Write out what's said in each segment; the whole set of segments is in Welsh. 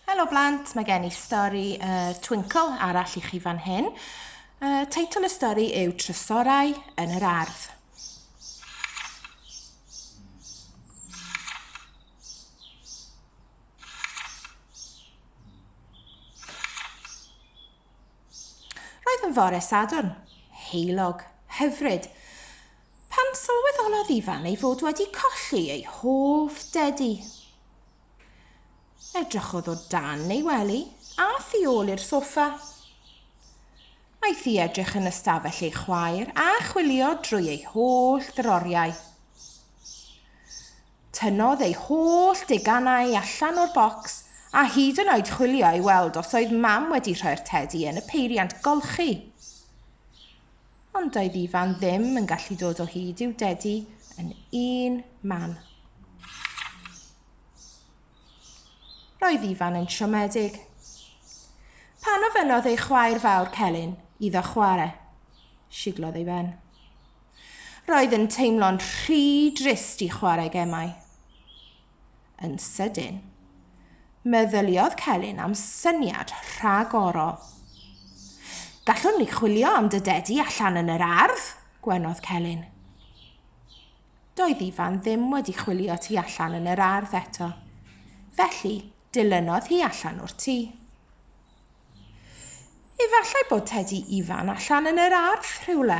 Helo blant, mae gen i stori uh, Twinkle arall i chi fan hyn. Uh, teitl y stori yw Trysorau yn yr Ardd. Roedd yn fore Sadwrn, heulog, hyfryd, pan sylweddolodd Ifan ei fod wedi colli ei hoff dedi. Edrychodd o dan ei wely a thu ôl i'r soffa. Aeth i edrych yn ystafell ei chwaer a chwilio drwy ei holl ddroriau. Tynnodd ei holl deganau allan o'r bocs a hyd yn oed chwilio i weld os oedd Mam wedi rhoi'r tedi yn y peiriant golchi. Ond doedd Ifan ddim yn gallu dod o hyd i'w dedi yn un man. Roedd Ifan yn siomedig. Pan ofynnodd ei chwaer fawr Celyn iddo chwarae, siglodd ei ben. Roedd yn teimlo'n rhy drist i chwarae gemau. Yn sydyn, meddyliodd Celyn am syniad rhagorol. Gallwn ni chwilio am dy dedi allan yn yr ardd, gwenodd Celyn. Doedd Ifan ddim wedi chwilio tu allan yn yr ardd eto. Felly, dilynodd hi allan o'r tŷ. Efallai bod Tedi Ifan allan yn yr ardd rhywle.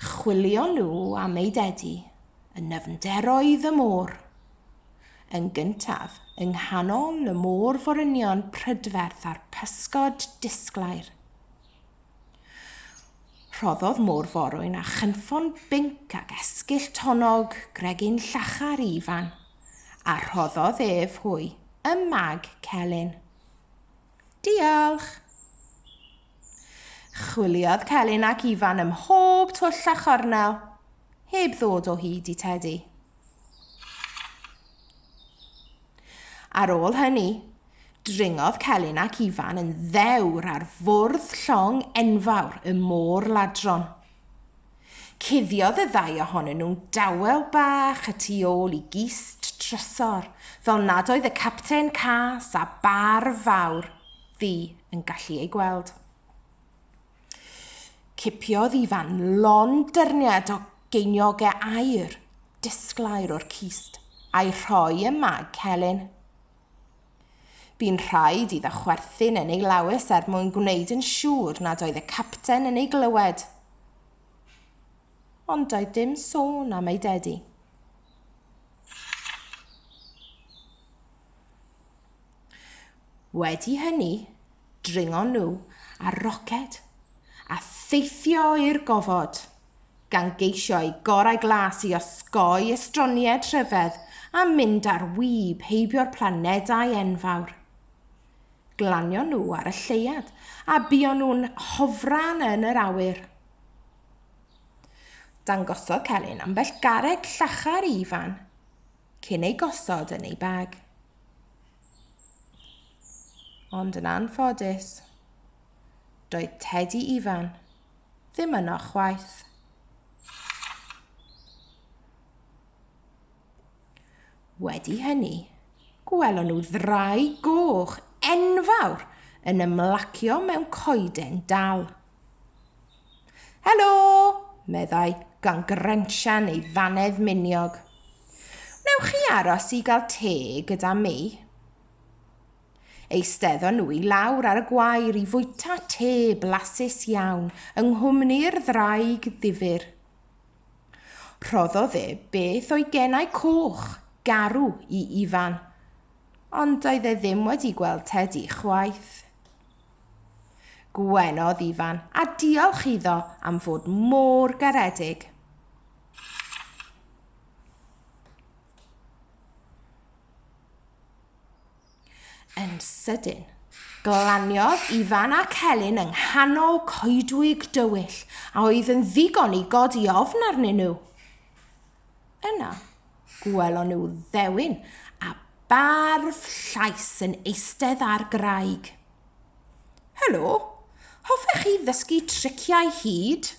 Chwilio nhw am ei dedi yn nyfnderoedd y môr. Yn gyntaf, yng nghanol y môr forynion prydferth a'r pysgod disglair. Rhoddodd môr forwyn a chynffon binc ac esgyll tonnog gregin llachar Ifan, a rhoddodd ef hwy ym mag Celyn. Diolch! Chwiliodd Celyn ac Ifan ym mhob twll a chornel, heb ddod o hyd i Tedi. Ar ôl hynny, Dringodd Celyn ac Ifan yn ddewr ar fwrdd llong enfawr y Môr Ladron. Cuddiodd y ddau ohonyn nhw'n dawel bach y tu ôl i gist trysor, fel nad oedd y Capten Cas a Barf Fawr Ddu yn gallu eu gweld. Cipiodd Ifan lon dyrniad o geiniogau aur, disglair o'r cist, a'i rhoi ym mag Celyn. Bu'n rhaid iddo chwerthin yn ei lawys er mwyn gwneud yn siŵr nad oedd y capten yn ei glywed. Ond doedd dim sôn am ei dedi. Wedi hynny, Dringon nhw ar roced a theithio i'r gofod, gan geisio eu gorau glas i osgoi estronied rhyfedd a mynd ar wib heibio'r planedau enfawr. Glanion nhw ar y lleuad a buon nhw'n hofran yn yr awyr. Dangosodd Celyn ambell garreg llachar i Ifan cyn ei gosod yn ei bag. Ond yn anffodus, doedd Tedi Ifan ddim yno chwaith. Wedi hynny, gwelon nhw ddrai goch enfawr yn ymlacio mewn coeden dal. Helo, meddai, gan grensian ei ddannedd miniog. Wnewch chi aros i gael te gyda mi? Eisteddon nhw i lawr ar y gwair i fwyta te blasus iawn yng nghwmni'r ddraig ddifur. Rhoddodd e beth o'i genau coch, garw i Ifan, ond doedd e ddim wedi gweld Tedi chwaith. Gwenodd Ifan a diolch iddo am fod mor garedig. Yn sydyn, glaniodd Ifan a Celyn yng nghanol coedwig dywyll a oedd yn ddigon i godi ofn arnyn nhw. Yna, gwelon nhw ddewin a barf llais yn eistedd ar graig. Helo, hoffech chi ddysgu triciau hud?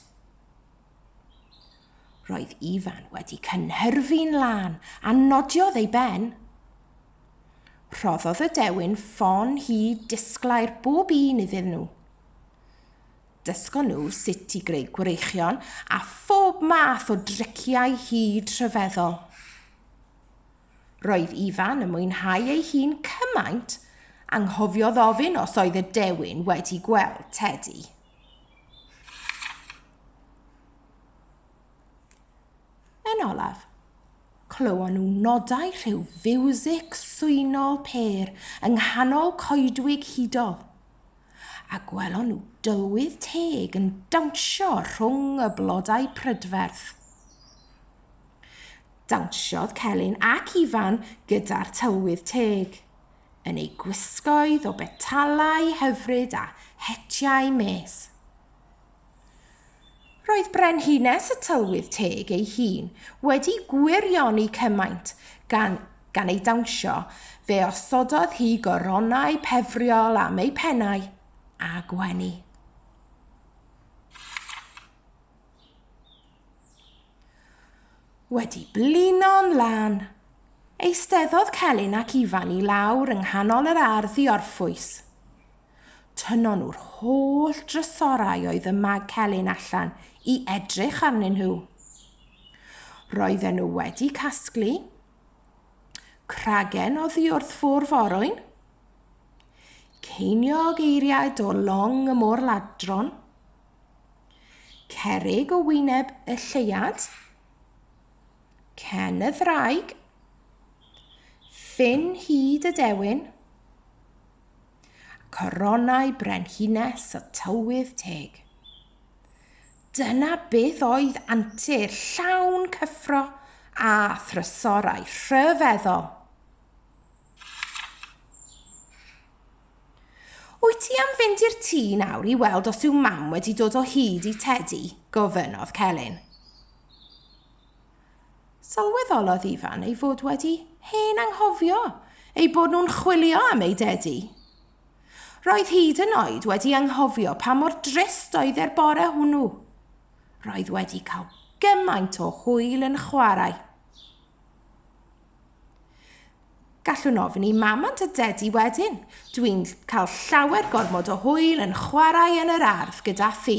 Roedd Ifan wedi cynhyrfu'n lân a nodiodd ei ben. Rhoddodd y dewin ffon hud disglair bob un iddyn nhw. Dysgon nhw sut i greu gwreichion a phob math o driciau hyd rhyfeddol. Roedd Ifan yn mwynhau ei hun cymaint anghofiodd ofyn os oedd y dewin wedi gweld Teddy. Yn olaf, clywon nhw nodau rhyw fiwsig swynol pêr yng nghanol coedwig hudol. a gwelon nhw dylwydd teg yn dawnsio rhwng y blodau prydferth. Dawnsiodd Celyn ac Ifan gyda'r tylwydd teg, yn eu gwisgoedd o betalau hyfryd a hetiau mes. Roedd Brenhines y Tylwyth Teg ei hun wedi gwirioni cymaint, gan, gan ei dawnsio, fe osododd hi goronau pefriol am eu pennau, a gwenu. Wedi blino'n lan, eisteddodd Celyn ac Ifan i lawr yng nghanol yr ardd i orffwys. Tynnon nhw'r holl drysorau oedd ym mag Celyn allan i edrych arnyn nhw. Roedden nhw wedi casglu cragen oddi wrth ffwrf orwyn, ceiniog eiriaid o long y môr ladron, cerig o wyneb y lleiad, cen y ddraig, ffin hyd y dewin, Coronau brenhines y tywydd teg. Dyna beth oedd antur llawn cyffro a thrysorau rhyfeddol. Wyt ti am fynd i'r tŷ nawr i weld os yw mam wedi dod o hyd i Tedi? gofynnodd Celyn. Sylweddolodd Ifan ei fod wedi hen anghofio eu bod nhw'n chwilio am eu dedi. Roedd hyd yn oed wedi anghofio pa mor drist oedd e'r bore hwnnw. Roedd wedi cael gymaint o hwyl yn chwarae. Gallwn ofyn i mamant a dedi wedyn. Dwi'n cael llawer gormod o hwyl yn chwarae yn yr ardd gyda thi.